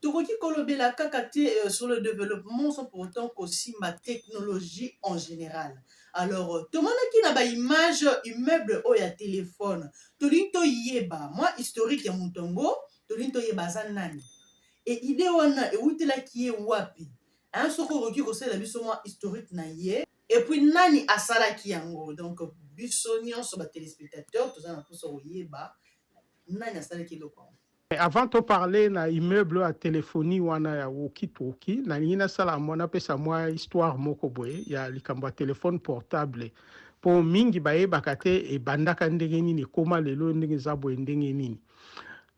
Tokoki kolobela kaka te euh, sur le développement sans pour autant kosimba technologie en général. Alors, euh, tomonaki na ba image immeuble oyo ya telefone, tolingi toyeba mwa historique ya moto yango, tolingi toyeba aza nani. E idée wana ewutelaki ye wapi? Hein, soki okoki kosalela biso mwa historique na ye, et puis nani asalaki yango? Donc biso nyonso ba téléspectateurs toza na mposa koyeba nani asalaki eloko yango. Mais avant to parler na immeuble ya telephonie wana ya walkie talkie, nalingi nasala mwa napesa mwa histoire moko boye ya likambo ya telephone portable mpo mingi bayebaka te ebandaka ndenge nini ekoma lelo ndenge eza boye ndenge nini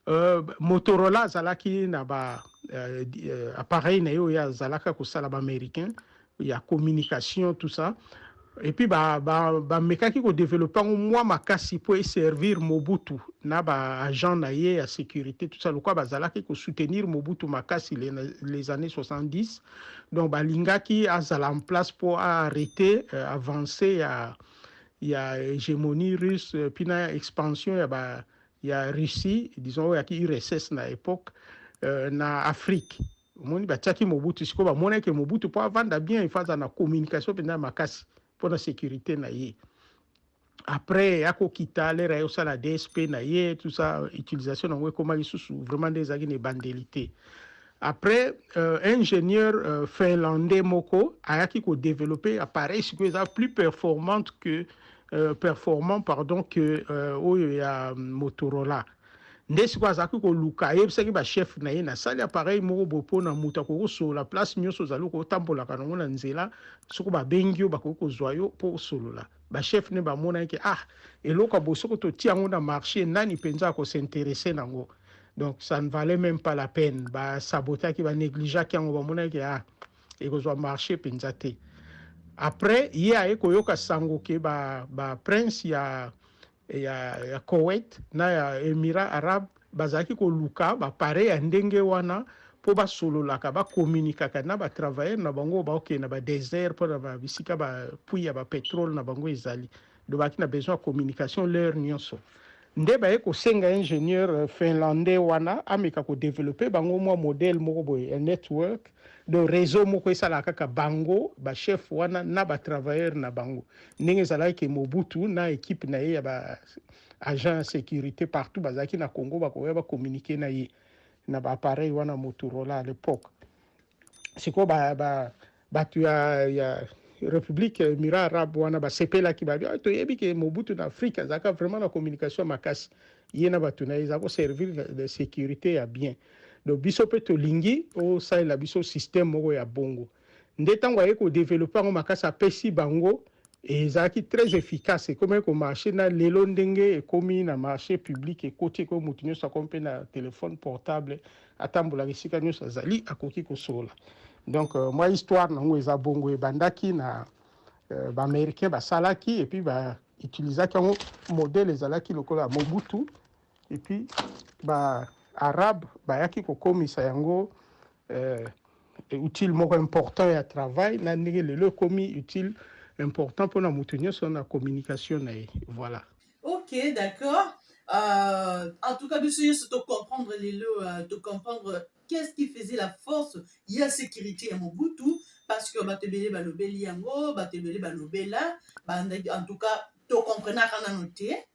euh, motorola azalaki na ba euh, euh, appareil na ye oyo azalaka kosala baaméricain ya communication tout ça et puis ba ba ba mekaki ko développer ngo mwa makasi pour servir Mobutu na ba agent na ye ya sécurité tout ça lokwa bazalaki ko soutenir Mobutu makasi les, les années 70 donc balingaki azala en place pour arrêter euh, avancer ya ya hégémonie russe euh, puis na expansion ya ba ya Russie disons ya ki URSS na époque euh, na Afrique omoni batiaki mobutu sikoyo bamonaki ke mobutu mpo avanda bien il faut aza na communication mpenza ya makasi mpo na sécurité na ye après ya kokita lere aye osala dsp na ye tout ça utilisation nango ekoma lisusu vraiment nde ezalaki na ebandeli te après euh, ingénieur euh, finlandais moko ayaki kodeveloppe appareil sikoyo eza plus performante que euh, performant pardon que euh, oyo ya motorola euh, nde sikoyo azalaki koluka ayebisaki bachef na ye nasali apareil moko boye mpo na moto akoki kosolola place nyonso ozali kotambolaka nango na nzela soko babengi yo bakoki kozwa yo mpo osolola bachef nde bamonaki ke ah eloko boye soko totia yango na marché nani mpenza akosinteresse na yango donc ça ne valait même pas la peine basabotaki banegligeaki yango bamonaki ah ekozwa marché mpenza te après ye aye koyoka sango ke ba, ba prince ya ya, ya Koweït na ya Emirats arabes bazalaki koluka bapare ya ndenge wana mpo basololaka bakomunikaka na batravailleur na bango baokende na badesert mpo na bisika bapui ya bapetrole na bango ezali dobaki na besoin ya communication l'heure nyonso nde baye kosenga ingénieur euh, finlandais wana ameka kodevelope bango mwa modèle moko boye ya network donc réseau moko esalaka kaka bango bachef wana na batravailleur na bango ndenge ezalaki ke Mobutu na ekipe na ye ya ba agent ya securite partout bazalaki na Congo bakoya ba communiquer na ye na ba appareil wana Motorola à l'époque sikoyo ba, ba, bato ya, ya république mira arabe wana basepelaki babi ah, toyebi ke Mobutu na Afrique azalaka vraiment na communication makasi ye na bato na ye eza koservir de sécurité ya bien donc biso mpe tolingi osalela biso système moko ya bongo nde ntango aye kodevelope yango makasi apesi bango ezalaki très efficace ekomaki komarche na lelo ndenge ekomi na marche public ekoti ekomi moto nyonso akomi mpe na telefone portable atambolaka esika nyonso azali akoki kosola donc euh, mwa histoire nango eza bongo ebandaki na euh, baaméricain basalaki epuis bautilisaki yango modele ezalaki lokola mobutu et puis ba arabe bayaki kokomisa yango euh, outil moko important ya travail na ndenge lelo ekomi outil important mpona moto nyonso na communication na ye voilà ok d'accord euh, en tout cas biso nyonso tocomprendre lelo euh, tocomprendre qu'est-ce qui faisait la force ya sécurité ya mobutu parce que bato ebele balobeli yango bato ebele balobela en tout cas tocomprenaka nano te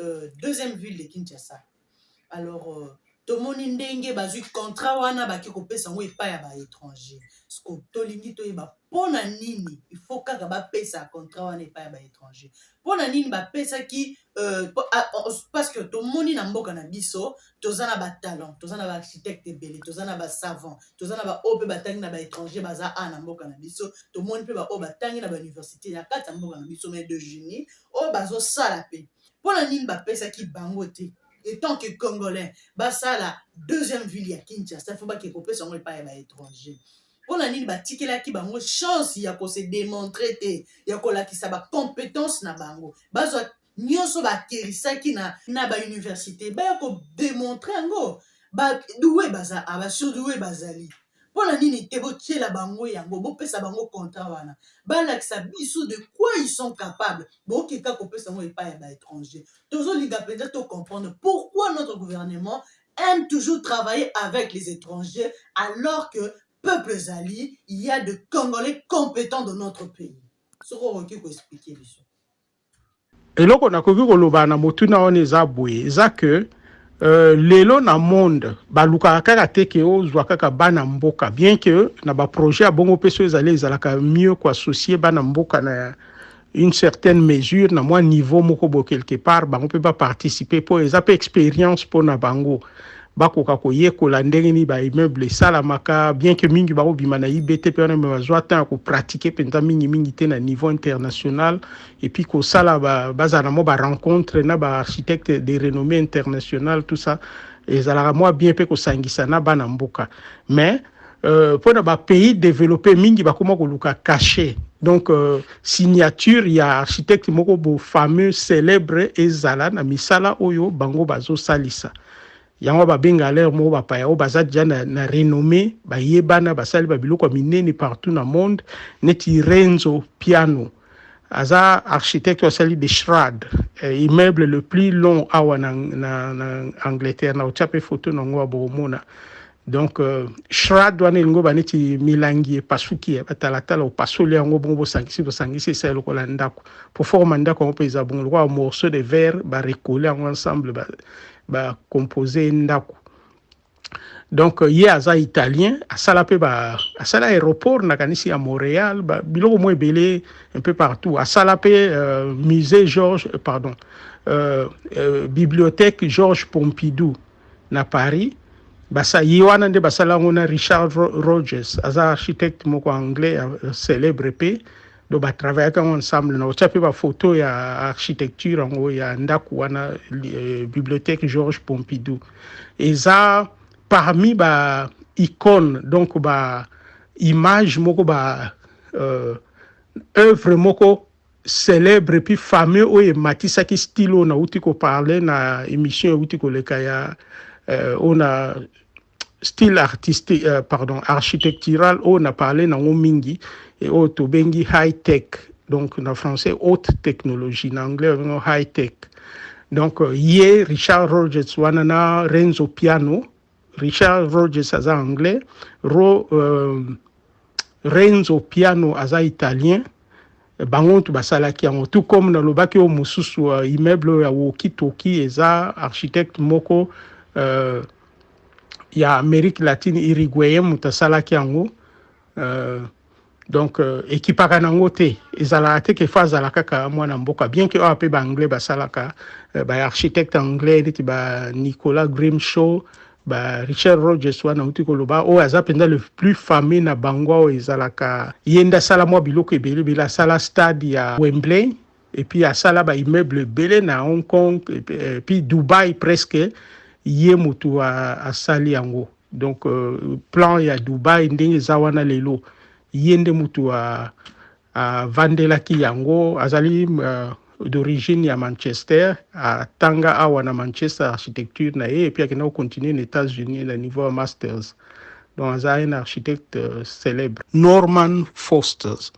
euh, deuxième ville de kinshasa alors euh, tomoni ndenge bazwi contrat wana bake kopesa yango epai ya baétranger siko tolingi toyeba mpo na nini ifo kaka bapesa contrat wana epai ya baétranger mpo na nini bapesaki euh, ah, oh, oh, parce que tomoni na mboka na biso toza na batalent toza na baarchitecte ebele toza na basavant toza na baoyo mpe batangi na baétranger baza a na mboka na biso tomoni mpe baoyo batangi na bauniversité ya kati ya mboka na biso mai de génie oyo bazosala mpe mpo na nini bapesaki bango te etant que congolais basala deuxième ville ya kinshasa fo bake kopesa yango epai ya baétranger mpo na nini batikelaki bango chance ya kose démontre te ya kolakisa bacompétence na bango bazwa nyonso bakerisaki na, na bauniversité baya kodemontre yango baduwe baza abasurduwe ah, bazali mpo na nini te botyela bango yango bopesa bango contrat wana balakisa biso de quoi ils sont capables bokoki kaka kopesa yango epai ya baétranger tozolinga mpenza to comprendre pourquoi notre gouvernement aime toujours travailler avec les étrangers alors que peuple ezali il y a de congolais compétents de notre pays soki okoki koexplike biso Eloko nakoki koloba na motuna wana eza boye eza que Euh, lelo na monde balukaka kaka te ke ozwa kaka bana mboka bien que na baprojet ya bongo mpe so ezali ezalaka mieux koassocie bana mboka na une certaine mesure na mwa niveau moko bo quelque part bango mpe baparticipe mpo eza mpe expérience mpo na bango bakoka koyekola ndenge nini ba immeuble esalamaka bien que mingi bakobima na ibt mpe wana me bazwa temps ya kopratike mpenza mingimingi te na niveau international epuis kosala bazala na mwa barencontre na baarchitecte de renommée internationale tout ça ezalaka mwa bien mpe kosangisa na bana mboka mais euh, mpo na bapays développé mingi bakoma koluka cachet donc euh, signature ya architecte moko bo fameux célèbre ezala na misala oyo bango bazosalisa yango babenga alere moko bapaya oyo baza deja na, na renommé bayebana basali babiloko ya minene partout na monde neti renzo piano aza architecte asali de shrad eh, immeuble le plus long awa na, na, na angleterre na otya mpe foto na yango ya bokomona donc euh, shrad wana elingi oba neti milangi epasuki ya batalatala opasoli yango bongo bosangisi bosangisi esali lokola ndako po forme ya ndako yango mpe eza bongo lokola morceau de verre barekole yango ensemble bacompose ba ye ndako donc euh, ye aza italien asala mpe asala aéroport nakanisi ya montréal ba, biloko mwa ebele un peu partout asala mpe euh, musée george euh, pardon euh, euh, bibliothèque georges pompidou na Paris basa ye wana nde basala yango na Richard Rogers aza architecte moko anglais célèbre mpe donc batravaillaka yango ensemble na otya mpe bafoto ya architecture yango ya ndako wana euh, bibliothèque Georges Pompidou eza parmi ba icône donc ba image moko ba euh, œuvre moko Celebre puis fameux oyo ematisaki style oyo nauti ko parler na emission euti koleka ya euh, oyo na style artistique euh, pardon architectural oyo na parler nango mingi et oyo tobengi high tech donc na français haute technologie na anglais obengo high tech donc euh, ye richard rogers wana na renzo piano Richard Rogers aza anglais, Ro, euh, Renzo Piano aza italien, bango ntu basalaki yango tout comme nalobaki oyo mosusu uh, immeuble oyo ya woki toki eza architecte moko uh, ya amérique latine iriguayen moto asalaki yango uh, donc euh, ekipaka nango te ezalaka te ke fa azala kaka mwana mboka bien ke awa mpe baanglais basalaka euh, baarchitecte anglais neti ba nicolas grimshaw ba richard rogers wana auti koloba oyo aza mpenza le plus fameux na bango oyo ezalaka ye nde asala mwa biloko ebele ebele asala stade ya wembley epuis asala baimmeuble ebele na hong kong epuis dubai presque ye motu asali yango donc euh, plan ya dubai ndenge eza wana lelo ye nde mutu avandelaki yango azali euh, d'origine ya manchester atanga awa na manchester architecture na ye epuis akenda kocontinue na états-unis na niveau ya masters donc aza un architecte euh, célèbre norman fosters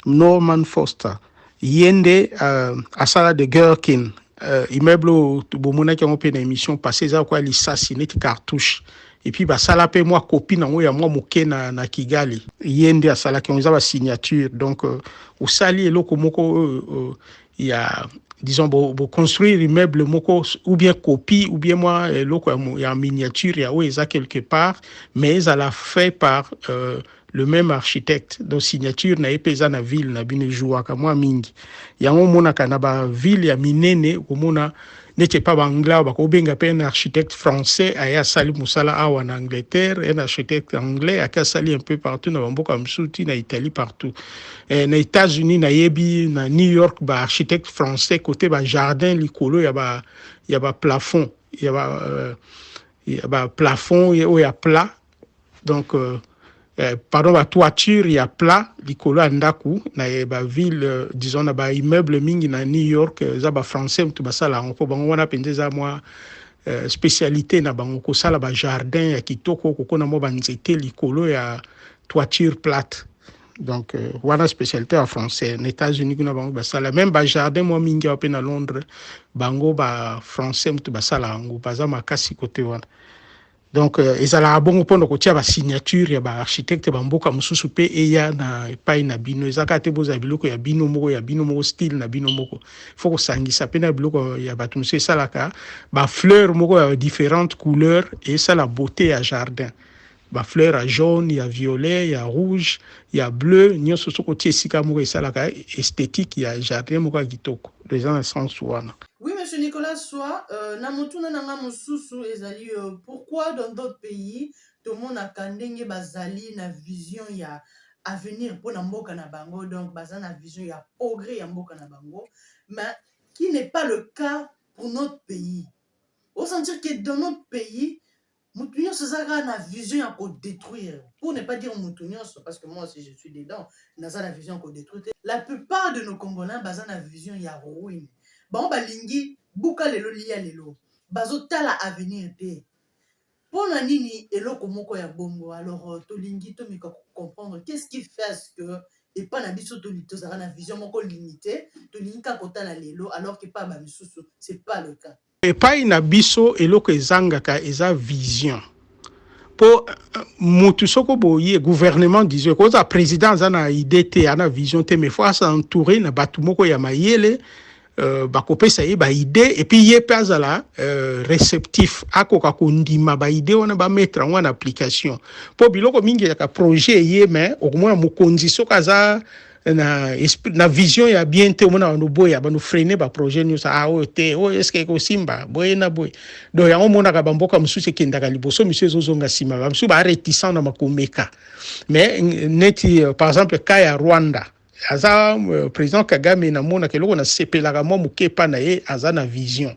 Norman Foster ye nde uh, asala de Gherkin uh, immeuble oyo bomonaki yango mpe na émission passé eza lokola lisasi neti cartouche epuis basala mpe mwa kopi nango ya mwa moke na, na kigali ye nde asalaki yango eza basignature donc uh, osali eloko moko oyo uh, uh, ya disons boconstruire bo immeuble moko ou bien copie ou bien mwa eloko ya, ya miniature ya oyo eza quelque part mais ezala fait par uh, le meme architecte donc signature na ye mpe eza na ville na bino ejouaka mwa mingi yango omonaka na ba ville ya minene okomona neti epa baanglais bakobenga mpe un architecte français aye asali mosala awa na angleterre un architecte anglais ake asali un peu partout na bamboka mosusu ti na italie partout eh, na états-unis nayebi na new york baarchitecte français kote bajardin likolo ya ba, ya ba plafond ya ba, uh, ya ba plafond oyo ya plat donc euh, eh, pardon ba toiture ya plat likolo ya ndako na eh, ba ville euh, disons na ba immeuble mingi na New York euh, eza ba français mutu basala yango mpo bango wana mpenza eza mwa euh, spécialité na bango kosala ba jardin ya kitoko kokona mwa banzete likolo ya toiture plate donc euh, wana spécialité ya français na états-unis kuna bango basala même ba jardin mwa mingi awa mpe na londres bango ba français mutu basala yango baza makasi kote wana donc euh, ezalaka bongo mpona kotia basignature ya baarchitecte bamboka mosusu mpe eya na epai na bino eza kaka te bozala biloko ya bino moko ya bino moko style na bino moko fo kosangisa mpe na biloko ya bato mosusu esalaka bafleur moko ya différentes couleur esala beauté ya jardin bafleur ya jaune ya violet ya rouge ya bleu nyonso soki otie esika moko esalaka esthétique ya jardin moko ya kitoko eza na sens wana Oui, monsieur Nicolas Soa, euh, na motuna na nga mosusu ezali euh, pourquoi dans d'autres pays tomonaka ndenge bazali na vision ya avenir mpo na mboka na bango donc baza na vision ya progrès ya mboka na bango mais qui n'est pas le cas pour notre pays osentir que dans notre pays motu nyonso eza kaka na vision ya kodétruire pour ne pas dire motu nyonso parce que moi aussi je suis dedans naza na vision ya kodétruire te la plupart de nos congolais baza na vision ya ruine bango balingi buka lelo lia lelo bazotala avenir te mpo na nini eloko moko ya bongo alors euh, tolingi tomeka kocomprendre qu'est ce qui fait ce que epa na biso tozalaka na vision moko limité tolingi kaka kotala lelo alors que epa ba misusu c'est pas le cas Epai na biso eloko ezangaka eza vision po euh, mutu soko boye gouvernement disons ekozala président aza na idée te ana vision te mais faut asa entouré na bato moko ya mayele euh, bakopesa ye baide epuis ye mpe azala euh, réceptif akoka kondima baide wana bamettre yango na application mpo biloko mingi yaka projet eye me okomona mokonzi soki aza na esprit na vision ya bien te omona bando boya bando freine ba projet nyonso ah oyo te oyo est-ce que ekosimba boye na boye donc yango omonaka bamboka mosusu ekendaka liboso misu ezozonga nsima bamisu ba réticent na makomeka mais neti euh, par exemple cas ya rwanda aza euh, président kagame namonaka eloko nasepelaka mwa moke epa na ye aza na vision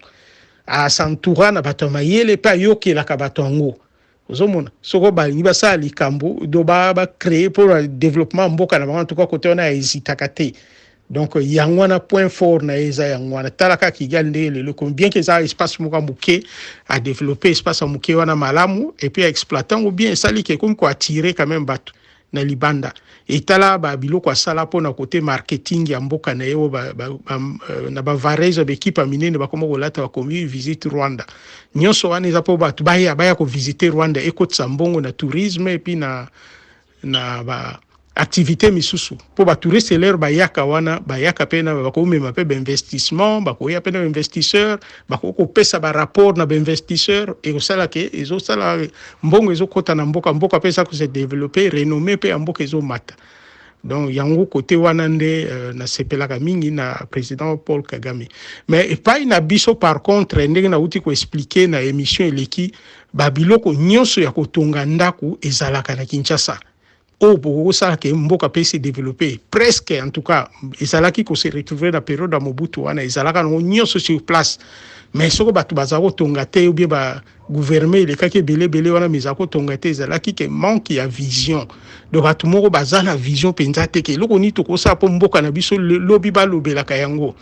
asantoura na bato ya mayele mpe ayokelaka bato yango ozomona soko balingi basala likambo do bacree mpo na développement ya mboka na bango antuka kote wana ya ezitaka te donc yango wana point fort na ye eza yango wana tala kaka kigali ndenge lelo ekomi bien ke eza espace moko ya moke adeveloppe espace ya moke wana malamu epuis aexploite yango bien esali ke ekomi koattire quand même bato na libanda etala ba biloko asala mpo na kote marketing ya mboka na ye oyo euh, na bavarezo ya baekipe ya minene bakoma kolata bakomi visite rwanda nyonso wana eza mpo bato baya baya kovisite rwanda ekotisa mbongo na tourisme epuis na, na ba activité misusu mpo batouriste lere bayaka wana bayaka mpe na bakomema mpe bainvestissement bakoya mpe na bainvestisseur bakoki kopesa barapport na bainvestisseur ekosala ke ezosala mbongo ezokɔta na mboka mboka mpe eza kose developpe renomme mpe ya mboka ezomata donc yango kote wana nde uh, nasepelaka mingi na président paul kagame mais epai na biso par contre ndenge nauti koexplike na émission eleki babiloko nyonso ya kotonga ndako ezalaka na kinshasa oyo bokoki kosala ke mboka mpe se developpe presque en tout cas ezalaki ko se retrouver na periode ya mobutu wana ezalaka nango nyonso sur place mais soko bato bazala kotonga te obie ba gouvernement elekaki ebele ebele wana mais ezala kotonga te ezalaki ke manque ya vision donc bato moko baza na vision mpenza te ke eloko nini tokosala mpo mboka na biso lobi balobelaka yango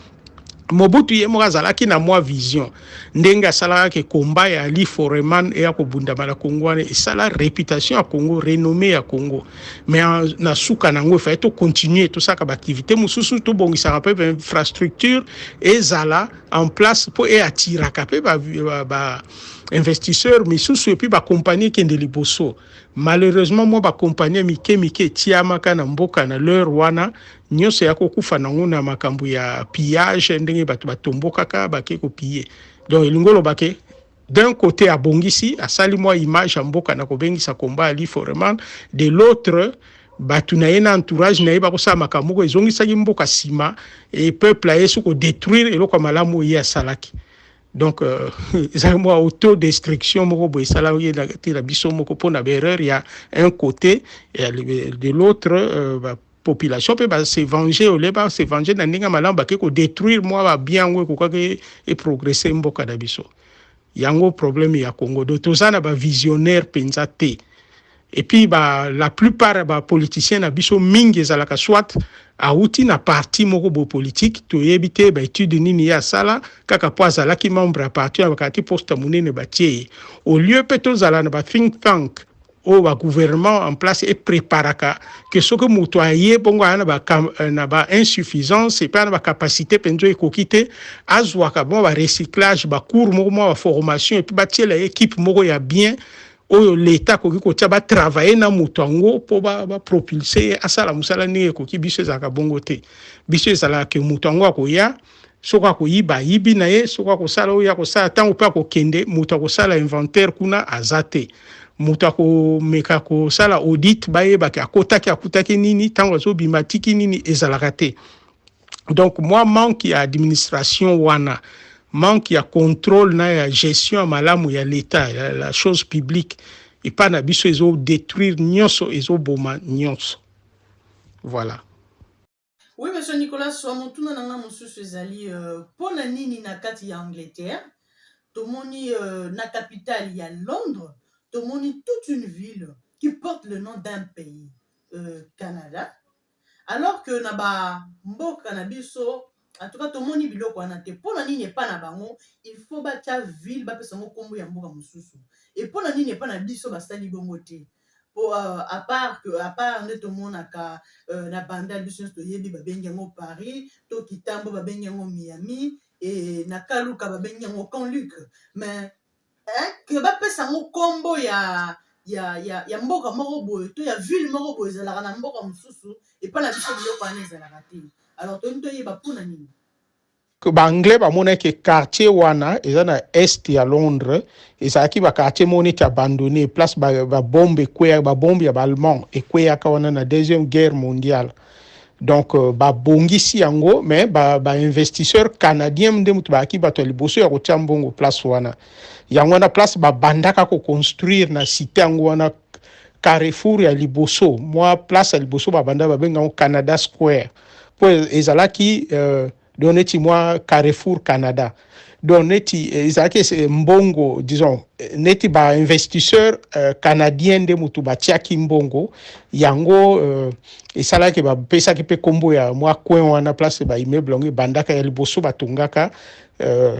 Mobutu ye moko azalaki na mwa vision ndenge asalaka ke combat ya Ali Foreman eya kobundama na Congo wana esala reputation ya Congo renommee ya Congo mais na suka nango efai to continuer tosaka baaktivité mosusu tobongisaka mpe bainfrastructure ezala en place mpo eatiraka mpe ba, ba, ba investisseur misusu epuis bakompanie ekende liboso malheureusement mwa bakompanie mike mike etiamaka na mboka na l'heure wana nyonso ya kokufa nango na makambo ya pillage ndenge bato batombokaka bake kopiye donc elingi oloba ke d'un côté abongisi asali mwa image ya mboka na kobengisa komba ali foreman de l'autre bato na ye na entourage na ye bakosala makambo moko ezongisaki mboka nsima e peuple aye soki kodétruire eloko ya malamu oyo ye asalaki donc euh, ezali mwa autodestruction moko boye esalaki na biso moko mpo na baerreur ya un côté ya de l'autre euh, population pe ba se venger ole ba se venger na ndenge malamu bake ko détruire mwa ba bien yango ekokaki e progresser mboka na biso yango problème ya Congo do toza na ba visionnaire penza te et puis ba la plupart ya ba politiciens na biso mingi ezalaka soit awuti na parti moko bo politique toyebi te ba étude nini ye asala kaka mpo azalaki membre ya parti abakati poste monene batie ye au lieu mpe tozala na ba think tank oyo ba gouvernement en place e preparaka que soki moto aye bongo aya na ba eh, na ba insuffisance et na ba capacité penzo ekoki te azwaka bon ba recyclage ba cours moko mwa ba formation et puis batiela équipe moko ya bien oyo leta akoki kotia batravaille na moto yango mpo bapropulse ba ye asala mosala ndenge ekoki biso ezalaka bongo te biso ezalaka ke moto yango akoya soki akoyiba ayibi na ye soki akosala oyo akosala ntango mpe akokende moto akosala inventaire kuna aza te moto akomeka kosala audit bayebaki akotaki akutaki nini ntango azobima atiki nini ezalaka te donc mwa manque ya administration wana manque ya contrôle na ya gestion ya malamu ya l'etat ya la chose publique epai na biso ezodétruire nyonso ezoboma nyonso voilà Oui, monsieur Nicolas, soit mon tour nanga mosusu ezali euh, mpo na nini na kati ya Angleterre tomoni euh, na capitale ya Londres tomoni toute une ville qui porte le nom d'un pays euh, Canada alors que na ba mboka na biso en tout cas tomoni biloko wana te mpo na nini epa na bango il faut batya ville bapesa yango nkombo ya mboka mosusu epo na nini epa na biso basali bongo te po uh, à part que à part nde tomonaka uh, na bandal biso nyonso toyebi babengi yango paris to kitambo babengi yango miami e na kaluka babengi yango canluc mais eh, ke bapesa yango nkombo ya ya, ya, ya mboka moko boye to ya ville moko boye ezalaka na mboka mosusu epai na biso biloko wana ezalaka te alors toyini toyeba mpo na nini baanglais bamonaki ke quartier wana eza na est ya londres ezalaki baquartier moko neti abandonne place babombe ekweya babombe ya baallemand ekweyaka wana na deuxième guerre mondiale donc euh, babongisi yango mais bainvestisseur ba canadien nde moto bayaki bato ya liboso ya kotia mbongo place wana yango wana place babandaka koconstruire na site yango wana carrefour ya liboso mwa place ya liboso babanda babenga yango canada square mpo ezalaki euh, do neti mwa carrefour canada donc neti eh, ezalaki eh, mbongo disons eh, neti bainvestisseur uh, canadien nde motu batiaki mbongo yango uh, esalaki bapesaki mpe nkombo ya mwa coin wana place baimmeuble yango ebandaka ya liboso batongaka uh,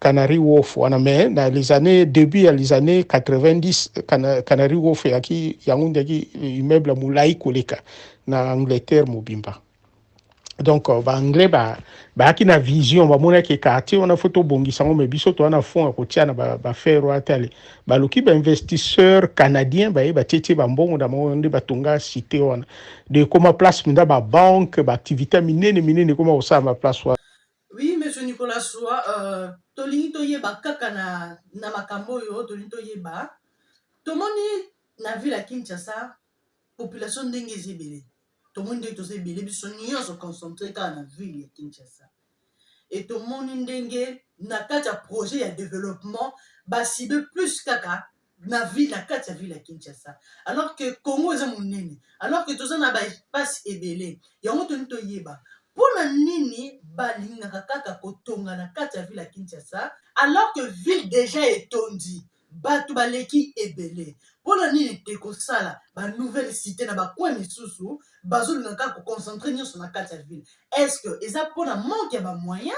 Canary Wolf wana mais na les années début ya les années 90 Cana- Canary Wolf yaki yango ndeki immeuble ya molai koleka na Angleterre mobimba donc euh, baanglais ba- bayaki na vision bamonaki quartier wana fo tobongisa yango me biso toa na fond ya kotia na ba- bafere wana tale baluki bainvestisseur canadien baye batietie bambongo na bango nde batonga cité wana de ekoma place mpenza babanke baactivité ya minene minene ekoma kosala baplace wana Oui, monsieur Nicolas Soua, euh, tolingi toyeba kaka na, na makambo oyo tolingi toyeba tomoni na ville ya Kinshasa population ndenge eza ebele tomoni ndenge toza ebele biso nyonso concentre kaka na ville ya Kinshasa e tomoni ndenge na kati ya projet ya développement basibe plus kaka na ville na kati ya ville ya kinshasa alors que congo eza monene alors que toza na baespace ebele yango toni toyeba mpo na nini balingaka kaka kotonga na kati ya ville ya kinshasa alors que ville déjà etondi bato baleki ebele mpo na nini te kosala banouvelle cité na bacoin misusu bazolinga kaka koconcentre nyonso na kati ya ville est ce que eza mpo na manque ya bamoyen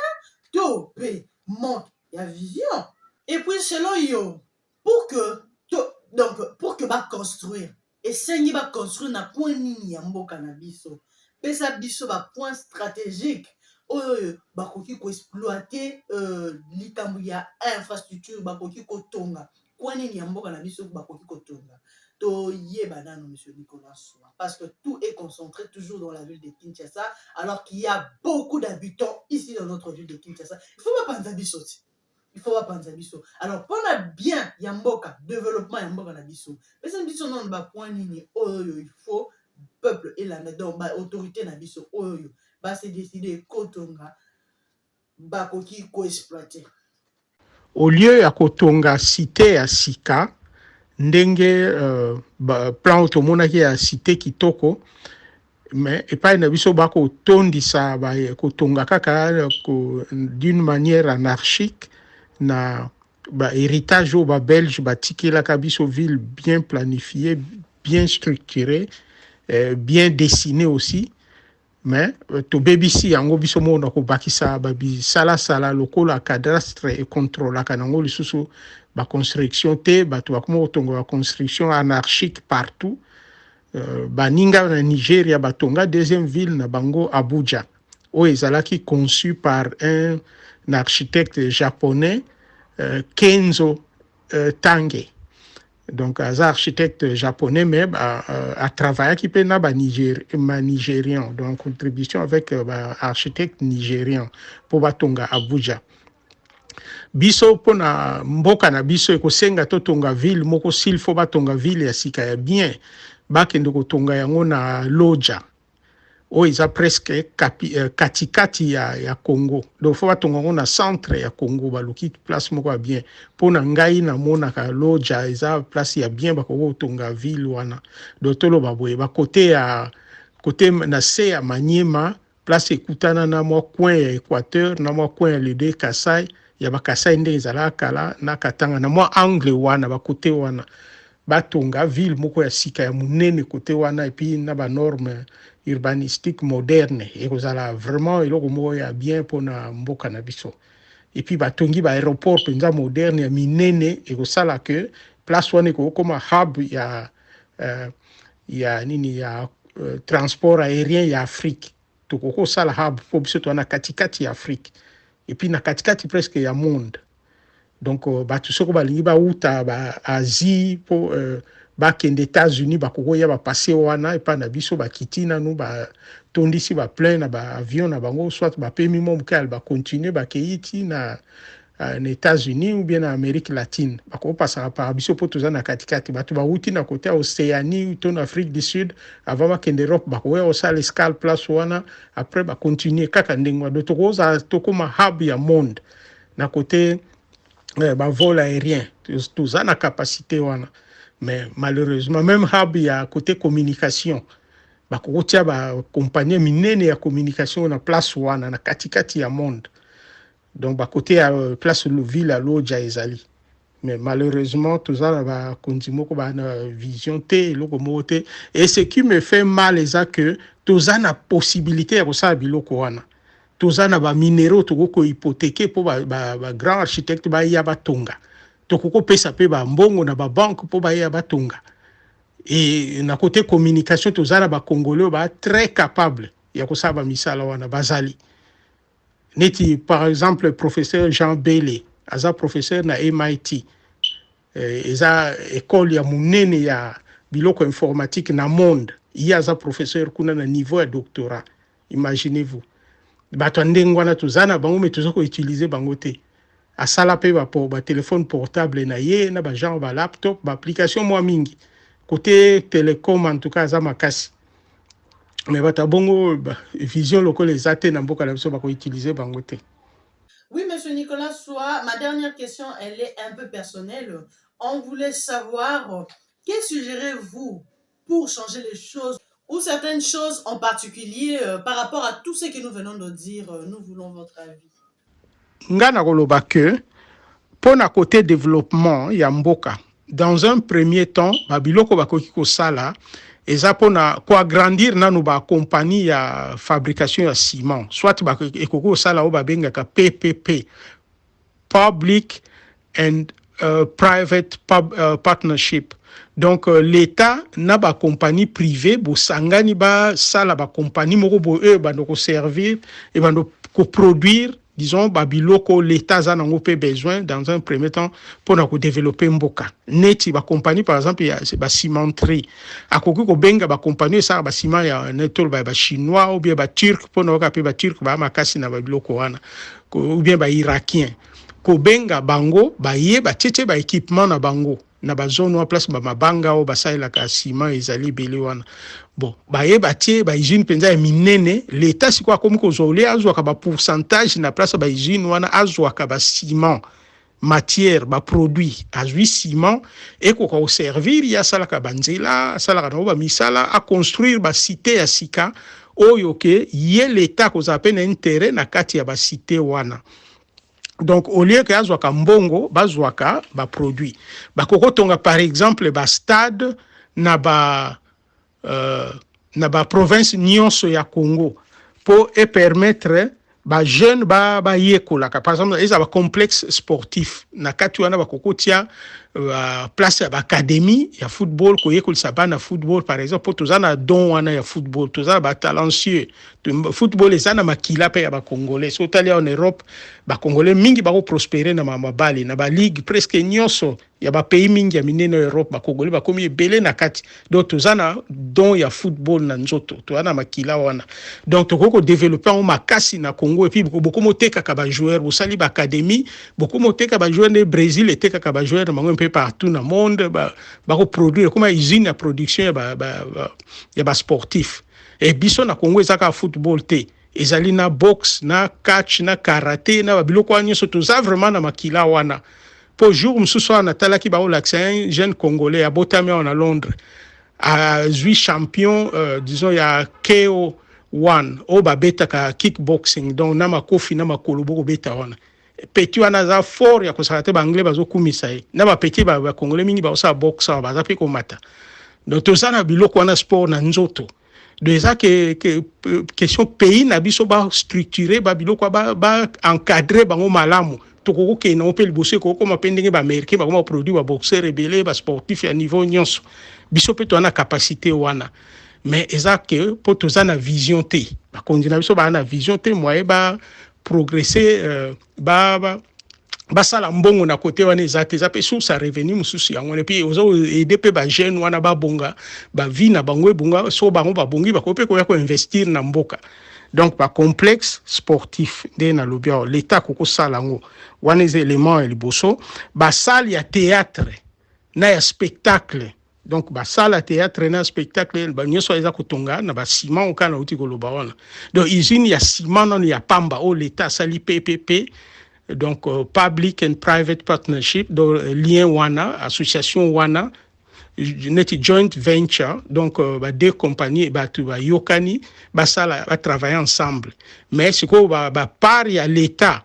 to mpe manque ya vision et puis selon yo pour que to, donc pour que ba construire esengi ba construire na coin nini ya mboka na biso pesa biso ba point stratégique oyo bakoki koexploite euh, likambo ya infrastructure bakoki kotonga Coin nini ya mboka na biso bakoki kotonga toyeba nano monsieur Nicolas Soa parce que tout est concentré toujours dans la ville de Kinshasa alors qu'il y a beaucoup d'habitants ici dans notre ville de Kinshasa il faut bapanza biso ti il faut bapanza biso alors mpona bien ya mboka développement ya mboka na biso pesa biso nano bapoint nini oyo il faut peuple elanda donc baautorité na biso oyo base décide kotonga bakoki ko exploiter. Au lieu ya kotonga site ya sika ndenge euh, plan oyo tomonaki ya site kitoko mais epai na biso bakotondisa kotonga kaka d'une manière anarchique na bahéritage oyo babelge batikelaka biso ville bien planifiée bien structurée euh, bien dessinée aussi me tobebisi yango biso moko na kobakisa babisalasala lokola cadastre econtrolaka nango lisusu baconstruction te bato bakoma kotonga baconstruction anarchique partout euh, baninga na nigeria batonga deuxième ville na bango abuja oyo ezalaki conçu par un architecte japonais euh, kenzo euh, tange donc aza architecte japonais mais atravaillaki mpe na banigérian donc contribution avec euh, baarchitecte nigérian mpo batonga abuja biso mpo na mboka na biso ekosenga totonga ville moko s'il faut batonga ville ya sika ya bien bakende kotonga yango na loja oyo eza presque kapi, euh, katikati ya, ya congo donc fo batonga yango na centre ya congo baluki place moko ya bien mpo na ngai namonaka loja eza place ya bien bakoki kotonga ville wana donc toloba boye bakote ya kote na se ya maniema place ekutana na mwa coin ya équateur na mwa coin ya lede kasai ya bakasai ndenge ezalaka kala na katanga na mwa angle wana bakote wana Batonga ville moko ya sika ya munene kote wana epi na ba norme urbanistique moderne ekozala vraiment eloko moko ya bien mpo na mboka na biso. Epi batongi ba aeroport mpenza moderne ya minene ekosala que place wana ekokoma hub ya uh, ya nini ya uh, transport aerien ya Afrique. Tokoki kosala hub mpo biso toa na katikati ya Afrique et puis na katikati presque ya monde donc euh, bato soko balingi bawuta ba Asie mpo euh, bakende États-Unis bakoki koya bapase wana epai na biso bakiti nanu batondisi baplein na baavion na bango soit bapemi mwa moke bakontinue bakei ti na Euh, na Etats-Unis ou bien na Amérique latine bakopasaka par biso mpo toza na katikati bato bawuti na kote ya Océanie to na Afrique du Sud avant bakende Europe bakoya kosala escale place wana après bacontinue kaka ndenge wana tokozala tokoma hub ya monde na kote eh, bavol aérien toza na capacité wana mais malheureusement même hub ya kote communication bakokotia bacompagnie minene ya communication na place wana na katikati ya monde donc ba kote ya euh, place ville ya loja ezali mais malheureusement toza na bakonzi moko ba na vision te eloko moko te et ce qui me fait mal eza que toza na possibilité ya kosala biloko wana toza na baminero tokoki kohypotheke mpo bagrand ba, ba, ba architecte baya batonga tokoki kopesa mpe bambongo na babanke mpo baya batonga e na kote communication toza na bacongolais ba très capable ya kosala bamisala wana bazali neti par exemple professeur jean bele aza professeur na mit eh, eza ekole ya monene ya biloko informatique na monde ye aza professeur kuna na niveau ya doctorat imaginez vous bato ya ndenge wana toza na bango me toza koutilize bango te Asala pe ba po ba telephone portable na ye na ba genre ba laptop ba application mua mingi cote telecom en tout cas aza makasi mais bato ya bongo vision lokola eza te na mboka na biso bako utiliser bango te. Oui, Monsieur Nicolas Soa, ma dernière question, elle est un peu personnelle. On voulait savoir, que suggérez-vous pour changer les choses ou certaines choses en particulier euh, par rapport à tout ce que nous venons de dire, euh, nous voulons votre avis. Nga nakoloba que mpo na côté développement ya mboka dans un premier temps babiloko bakoki kosala eza mpo na koagrandir nanu bakompani ya fabrication ya ciment soit ekoki kosala oyo babengaka ppp public and uh, private pub, uh, partnership donc uh, l'etat na ba compagnie privé bosangani basala ba compagnie moko boye oyo ebanda koservir ebanda koproduire disons ba biloko l'etat aza nango mpe besoin dans un premier temps mpo na kodeveloppe mboka neti bacompagnie par exemple ya bacimenterie akoki kobenga bacompagnie esaka baciment ya toloba ya bachinois ou bien baturque mpo na yoka mpe baturque baa makasi na babiloko wana ou bien ba irakien kobenga bango baye batietie ba equipement na bango na ba zone wa place ba mabanga oyo basalelaka ciment ezali ebele wana bon baye batie ba usine mpenza ya minene leta sikoyo akomi kozwa ole azwaka ba pourcentage na place ya ba usine wana azwaka ba ciment matière ba produit azwi ciment ekoka koservir ye asalaka banzela asalaka nango bamisala aconstruire basite ya sika oyo ke ye leta akozala mpe na interet na kati ya basite wana donc au lieu ke azwaka mbongo bazwaka baproduit bakokotonga par exemple bastade na ba euh, na ba province nyonso ya Congo pour e permettre ba jeune ba ba yekolaka par exemple eza ba complexe sportif na kati wana ba kokotia ba place ya ba académie ya football ko yekolisa bana football par exemple pour toza na don wana ya football toza ba talentueux football eza na makila pe ya ba congolais so tali en Europe ba congolais mingi ba ko prospérer na mabali na ba ligue presque nyoso ya ba pays mingi ya minene ya Europe bakogole bakomi ebele na kati donc toza na don ya football na nzoto toza na makila wana donc tokoki kodevelope yango makasi na Congo epuis bokomi otekaka bajoueur bosali baacadémie bokomi oteka bajoueur nde Brésil etekaka bajoueur na bango mpe partout na monde bakoproduire ekoma usine ya production ya basportif ba, ba, ba, ba e biso na Congo ezaka football te ezali na boxe na catch na karate na babiloko wana nyonso toza vraiment na makila wana mpo jour mosusu wana natalaki baolakisa un jeune congolais abotami awa na londres azwi champion euh, disons ya ko one oyo babetaka kickboxing donc na makofi na makolo bokobeta wana peti wana aza fort ya kosala te baanglais bazokumisa ye na bapeti bakongole mingi bakosala boxe awa baza mpe komata donc toza na biloko wana sport na nzoto donc eza ke, ke question pays na biso ba structure ba biloko ba, ba encadre bango malamu tokoki kokende yango mpe liboso ekoki kokoma mpe ndenge baaméricain bakoma baproduit baboxeur ebele basportif ya niveau nyonso biso mpe toza na capacité wana mais eza ke mpo toza na vision te bakonzi na biso baa na vision te moye ba progresser euh, ba, ba basala mbongo na kote wana eza te eza mpe source ya revenu mosusu yango wana epuis oza aide mpe bajeune wana babonga bavie na bango ebonga so bango babongi bakoki mpe koya koinvestir na mboka donc bacomplexe sportif nde nalobi awa leta akoki kosala yango wana eza element ya liboso basale ya théâtre na ya spectacle donc basala théâtre na spectacle ba nyonso eza kotonga na ba ciment oka na uti koloba wana donc usine ya ciment nanu ya pamba oyo leta asali ppp donc euh, public and private partnership donc euh, lien wana association wana neti joint venture donc euh, ba deux compagnie bato bayokani basala batravaille ensemble mais sikoyo bapart ba ya leta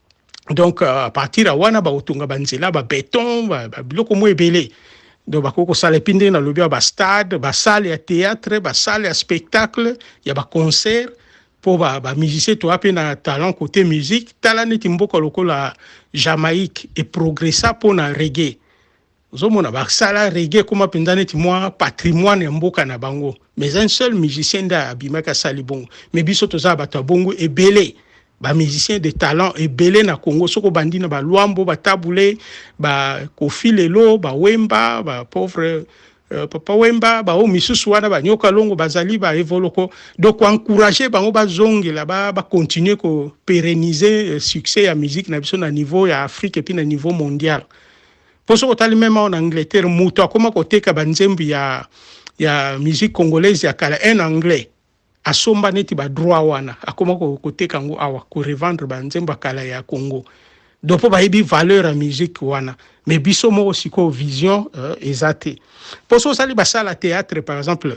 donc euh, à partir ya wana bakotonga banzela babeton babiloko mwa ebele donc bakoki kosala epi ndenge nalobi ya bastade basale ya théâtre basale ya spectacle ya baconcert mpo bamusicien toya mpe na talent côté musique tala neti mboka lokola jamaïque eprogressa mpo na regue ozomona basala rege ekoma mpenza neti mwa patrimoine ya mboka na bango mais un seul musicien nde abimaki asali bongo mais biso toza bato ya bongo ebele bamusicien de talent ebele na congo soki obandi na baluambo batabule bakofi lelo bawemba bapauvre euh, papa wemba baoyo misusu wana banyoka longo bazali baevoloko donc koencourage bango bazongela bacontinue ba kopérenise euh, succès ya musique na biso na niveau ya afrique epuis na niveau mondial mpo soki otali meme awa na angleterre moto akoma koteka banzembo ya, ya musique congolaise ya kala un anglais asomba neti badroit wana akoma koteka yango awa korevendre banzembo ya kala ya congo do mpo bayebi valeur ya musique wana me biso moko sikoyo vision uh, eza te mpo so osali basala théâtre par exemple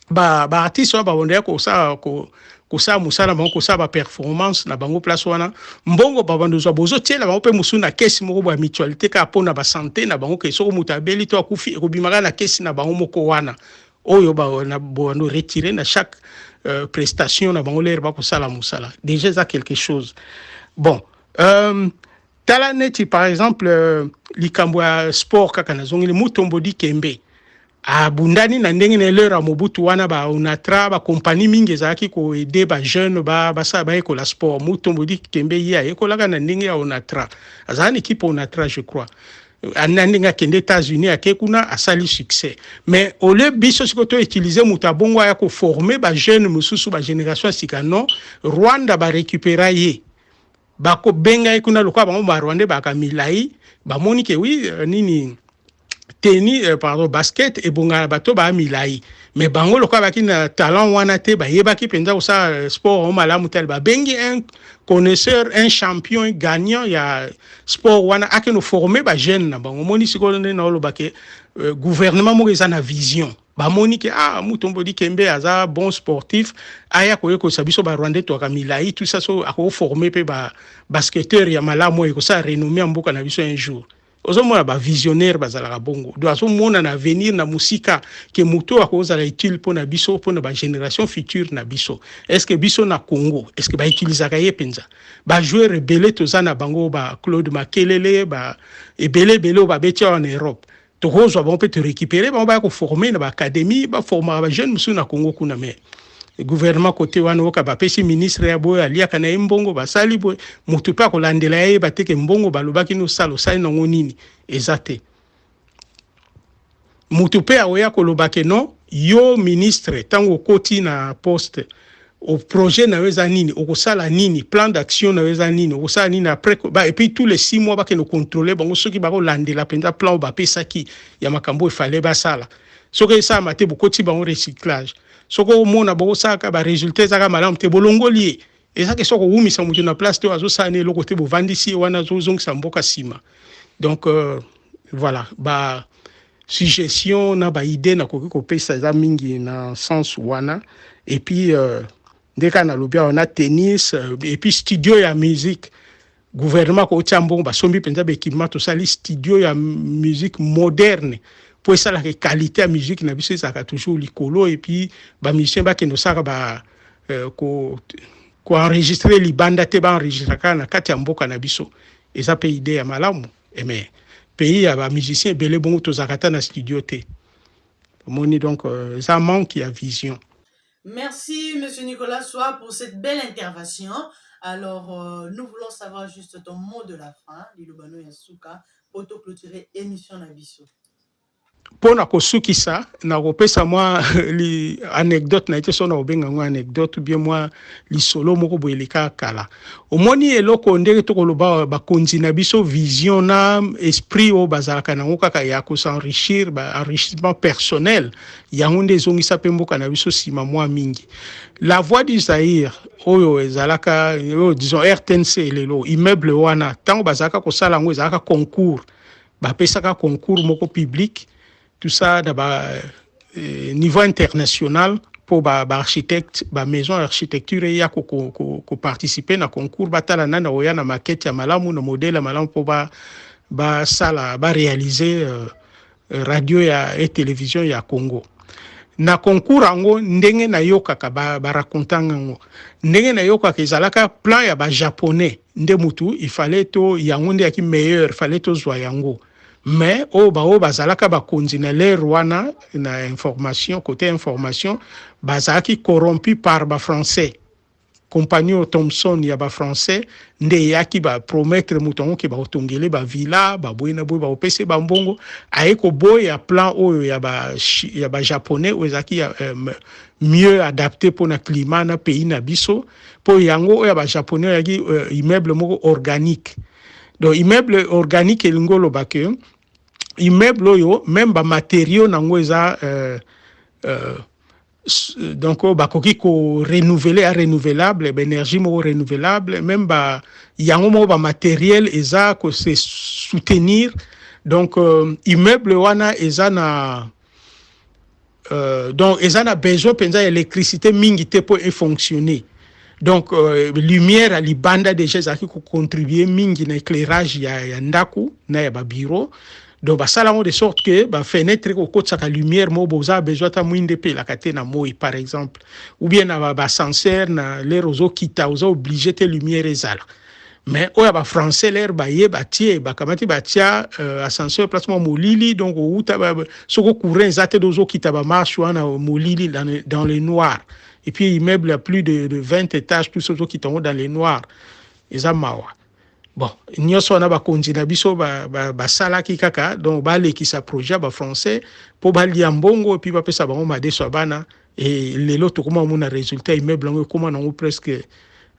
ba ba artistes wana babandaki kosala ko, kosala mosala bango kosala ba performance na bango place wana mbongo babanda ozwa bozotiela bango mpe mosusu na kesi moko boya mutualité kaka mpo na basante na bango ke soko moto abeli to akufi ekobimaka na kesi na bango moko wana oyo bobando retire na chaque euh, prestation na bango lere bakosala mosala déjà eza quelque chose bon euh, tala neti par exemple euh, likambo ya sport kaka nazongeli mutombo dikembe abundani na ndenge na eleur ya mobutu wana ba onatra ba compagnie mingi ezalaki koede ba jeune ba basala bayekola sport mutu mbodi kembe ye ayekolaka na ndenge ya onatra azala na ekipe onatra je crois na ndenge akende états-unis ake kuna asali succès mais ole biso siko to utilise moto abongo aya koforme bajeune mosusu bagénération ya sika non rwanda barécupéra ye bako benga ye kuna lokola bango ba rwandais baka milai bamoni ke wi euh, nini teni euh, pardon basket ebongana na bato baa milai me bango lokola baki na talent wana te bayebaki mpenza kosala euh, sport yango malamu tale babengi un connaisseur un champion gagnant ya sport wana akende forme bajeune na bango omoni sikoyo nde naoloba ke euh, gouvernement moko eza na vision bamoni ke ah mutombo dikembe aza bon sportif aya koyekolisa biso ba rwandais twaka milai tout ça so akoforme mpe ba basketteur ya malamu oyo ekosala renommé ya mboka na biso un jour ozomona bavisionnaire bazalaka bongo do azomona na avenir na mosika ke moto oyo akozala utile mpo na biso mpo na bagénération future na biso estce biso na congo estce bautilisaka ye mpenza bajoueur ebele toza na bango ba claude makelele ba ebele ebele oyo babeti awa na europe tokozwa bango mpe to récupérer bango baya koforme na baacadémie baformaka bajeune mosusu na congo kuna mais gouvernement kote wana oyoka bapesi ministre ya boye aliaka na ye mbongo basali boye moto mpe akolandela ye yeba teke mbongo balobaki nosala osali nango nini eza te moto mpe akoya kolobake non yo ministre ntango okoti na poste au projet na yo eza nini okosala nini plan d'action na yo eza nini okosala nini après ba, et puis tous les six mois bakende contrôler bango soki bakolandela mpenza plan oyo bapesaki ya makambo oyo efale basala soki esalama te bokoti bango recyclage soki omona bokosalaka baresultat ezaka malamu te bolongoli ye eza ke soki okowumisa moto na place te oyo azosala na eloko te bovandisi ye wana azozongisa mboka nsima donc euh, Voilà, ba suggestion na ba idée nakoki kopesa eza mingi na sens wana et puis euh, nde kaka nalobi awa na tennis euh, et puis studio ya musique gouvernement kotia mbongo basombi mpenza baekipement tosali studio ya musique moderne mpo esalaka ekalite ya musique na biso ezalaka toujours likolo et puis bamusicien bakende osalaka ba euh, ko koenregistre libanda te baenregistre kaka na kati ya mboka na biso eza mpe idée ya malamu Eh mais pays ya ba musiciens ebele bongo tozalaka ata na studio te omoni donc euh, eza manque ya vision Merci, Monsieur Nicolas Soir, pour cette belle intervention. Alors, euh, nous voulons savoir juste ton mot de la fin, Lilobano Yasuka, pour te clôturer émission Nabiso. mpo na kosukisa nakopesa mwa li anecdote na ye te so nakobenga yango anecdote bie mwa lisolo moko boye leka kala omoni eloko ndenge tokoloba bakonzi na biso vision na esprit oyo bazalaka nango kaka ya kosenrichir ba enrichissement personnel yango nde ezongisa mpe mboka na biso nsima mwa mingi la voix du zaire oyo ezalaka oyo disons rtnc lelo immeuble wana ntango bazalaka kosala yango ezalaka concours bapesaka concours moko public tout ça na ba euh, niveau international mpo baarchitecte ba bamaison ya architecture eya koparticipe ko, ko, ko na concours batala nani akoya na makete ya malamu na modele ya malamu mpo basala ba barealize euh, radio ya e television ya congo na concours yango ndenge nayokaka barakontanga ba yango ndenge nayokaka ezalaka plan ya bajaponnais nde mutu il fallait to yango nde yaki meilleur fallait tozwa yango mais oyo baoyo bazalaka bakonzi na lere wana na information kote information bazalaki corrompu par bafrançais compagnon thomson ya bafrançais nde eyaki bapromettre moto yango ke bakotongele bavilla baboye na boye bakopesa ye bambongo aye koboya plan oyo ya bajaponais oyo ezalaki euh, mieux adapte mpo na climat na pays na biso po yango oyo ya ba japonais oyaki euh, immeuble moko organique donc immeuble organique elingi oloba ke immeuble oyo meme bamateriaux nango eza euh, euh, donc oyo bakoki korenouvele ya renouvelable baénergie moko renouvelable meme ba yango moko bamateriel eza kose soutenir donc euh, immeuble wana eza na Euh, donc eza na besoin mpenza ya électricité mingi te mpo efonctionne donc euh, lumière ya libanda déjà ezalaki kocontribue mingi na éclairage ya, ya ndako na ya babiro donc basala yango de sorte que bafenetre ekokotisaka lumière moko boza besoin ata mwinde epelaka te na moi par exemple ou bien na basenseur na lere ozokita oza oblige te lumière ezala mais oyo ya bafrançais lere baye batie bakamati batia euh, ascenseur place mwa molili donc owuta soko courant eza te dozokita bamarche wana molili dans le noir et puis immeuble ya plus de, de 20 étages tout ça ozokita yango dans le noir eza mawa bon nyonso wana bakonzi na biso basalaki ba, ba kaka donc balekisa projet ya bafrançais mpo balia mbongo epuis bapesa bango madeso ya bana et lelo tokoma komona résultat immeuble yango ekoma nango presque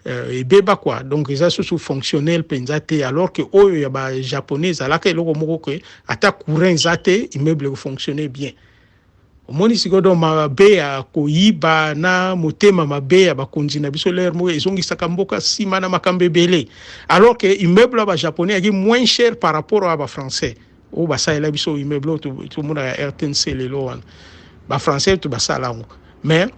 euh, ebeba quoi donc eza susu fonctionnel mpenza te alors que oyo ya ba japonais ezalaka eloko moko ke ata courant eza te immeuble ekofonctionne bien omoni sikoyo donc mabe ya koyiba na motema mabe ya bakonzi na biso lere moko ezongisaka mboka nsima na makambo ebele alors que immeuble ya ba japonais yaki moins cher par rapport ya ba français oyo basalela biso immeuble oyo tomona ya rtnc lelo wana bafrançais to basala yango mais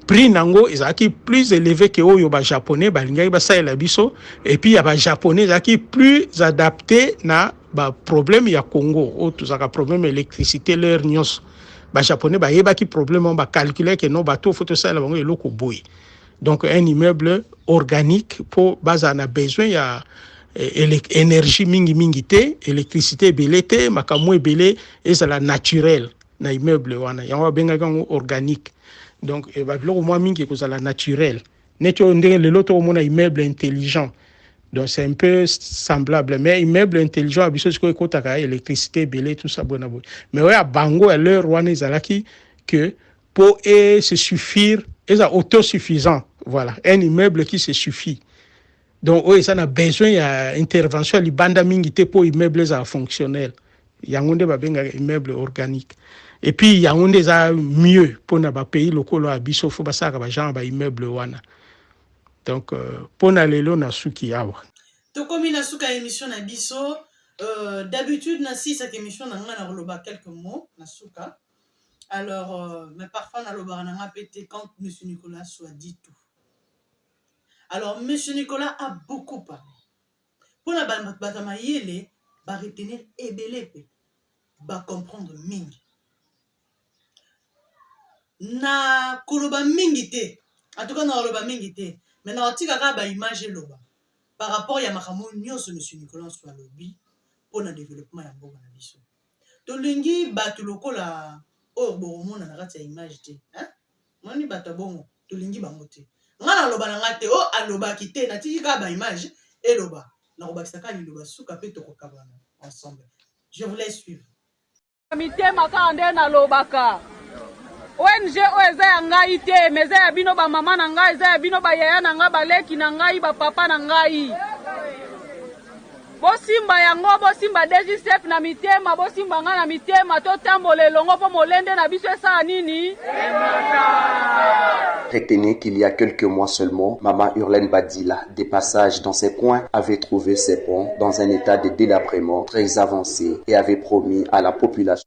prix na yango ezalaki plus élevé ke oyo bajaponais balingaki basalela biso epuis ya bajaponais ezalaki plus adapté na baproblème ya congo oyo tozalaka problème électricité l'heure nyonso bajaponais bayebaki problème yango bacalculaki no bato oyo fo tosalela bango eloko boye donc un immeuble organique mpo bazala na besoin ya eh, énergie mingi mingi te électricité ebele te makambo ebele ezala naturel na immeuble wana yango babengaki yango organique donc eh, babiloko mwa mingi ekozala naturel neti oyo ndenge lelo tokomona immeuble intelligent donc c'est un peu semblable mais immeuble intelligent ya biso sikoyo ekotaka électricité ebele tout ça boye na boye mais oyo ya bango ya l'heure wana ezalaki que po e se suffire eza autosuffisant voilà un immeuble qui se suffit donc oyo eza na besoin ya intervention ya libanda mingi te mpo immeuble ezala fonctionnel yango nde babengaka immeuble organique et puis yango nde eza mieux mpo na bapays lokola ya biso fo basalaka bagenre ba immeuble wana donc euh, mpo na lelo nasuki awa tokomi na suka ya émission na biso euh, d'habitude nasisaka émission na ngai na koloba quelques mots na suka Alors, euh, mais parfois, dans le barananga pété quand M. Nicolas soit dit tout. Alors, M. Nicolas a beaucoup parlé. Pour la Batama Yele, va retenir Ebelepe, va comprendre Ming. Na koloba mingi te. En tout cas, na koloba mingi te. Mais na otika ka ba image loba. Par rapport ya makambo nyoso M. Nicolas soit lobi pour le développement ya mboka na biso. tolingi bato lokola oyo bokomona na kati ya image te moni bato ya bongo tolingi bango te ngai naloba na ngai te o oh, alobaki te natiki kaka baimage eloba nakobakisa kaka liloba suka mpe tokokabana ensemble je vous laisse suivre mitema kaka nde nalobaka ong oyo eza ya ngai te me eza ya bino bamama na ngai eza ya bino bayaya na ngai baleki na ngai bapapa na ngai Bosimba yango, bosimba DGCEP na mitema, bosimba ngai na mitema, totambola elongo mpo molende na biso esala nini? Emata! Retenez qu'il y a quelques mois seulement, Mama Hurlaine Badila, de passage dans ces coins, avait trouvé ces ponts dans un état de délabrement très avancé et avait promis à la population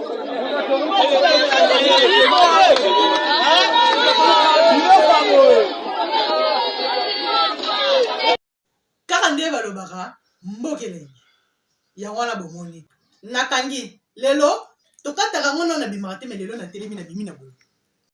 kaka nde balobaka mbokelenge yango wana bomoni nakangi lelo tokataka ngo nao nabimaka te me lelo natelemi na bimi na boye